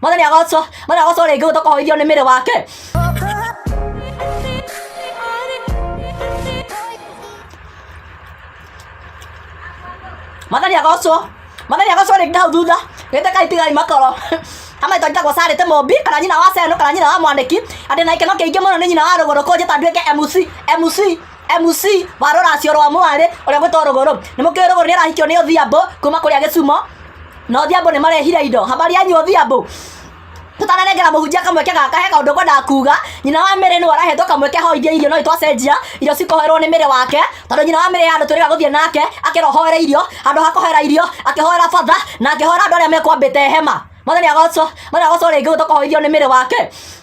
Mwana nĩ agocwo, mwana agocwo rĩngĩ gũtoka hoithio nĩ mĩrĩ wake. Mwana nĩ agocwo, mwana nĩ agocwo rĩngĩ hau thutha. Gĩte kai tigai makoro. Hama ito njagwa sare te mombi kana nyina wa seno kana nyina wa mwaniki. Andĩ na ikeno kĩingĩ mũno nĩ nyina wa rũgũrũ kũnjĩta nduĩke MC, MC. MC wa rũracio rwa mwarĩ ũrĩa gwĩtwo rũgũrũ nĩ mũkĩrĩ rũgũrũ nĩ arahikio nĩ odhiambo kuma kũrĩa gĩcumo na odhiambo nĩ marehire indo habari yanyu odhiambo tũtananengera mũhunjia kamweke gaka he kaũndũ ngwendaga kuga nyina wa mĩrĩ nĩwe arahetwo kamweke hoithie irio no itwacenjia irio cikoherwo nĩ mĩrĩ wake tondũ nyina wa mĩrĩ handũ twĩrĩga gũthiĩ nake akĩrohoera irio handũ ha kũhoera irio akĩhoera batha na akĩhoera andũ arĩa mekwambĩte hema mwathani agocwo mwathani agocwo rĩngĩ gũtoka hoithio nĩ mĩrĩ wake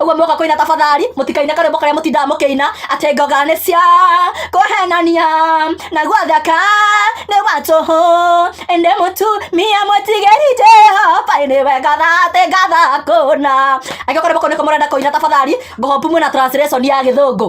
ũguo moka kũina tafadhali mũtikaine karĩmbo karĩa mũtindaga mũkĩina atĩ ngoga nĩ cia kũhenania na gwathaka nĩ watũhũ ĩndĩ mũtumia mũtigĩri jehova nĩ wega thatĩ ngathakũna angĩkorwo karĩmbo kau nĩko mũrenda kũina tafadhali ngohombu mwĩna translation ya gĩthũngũ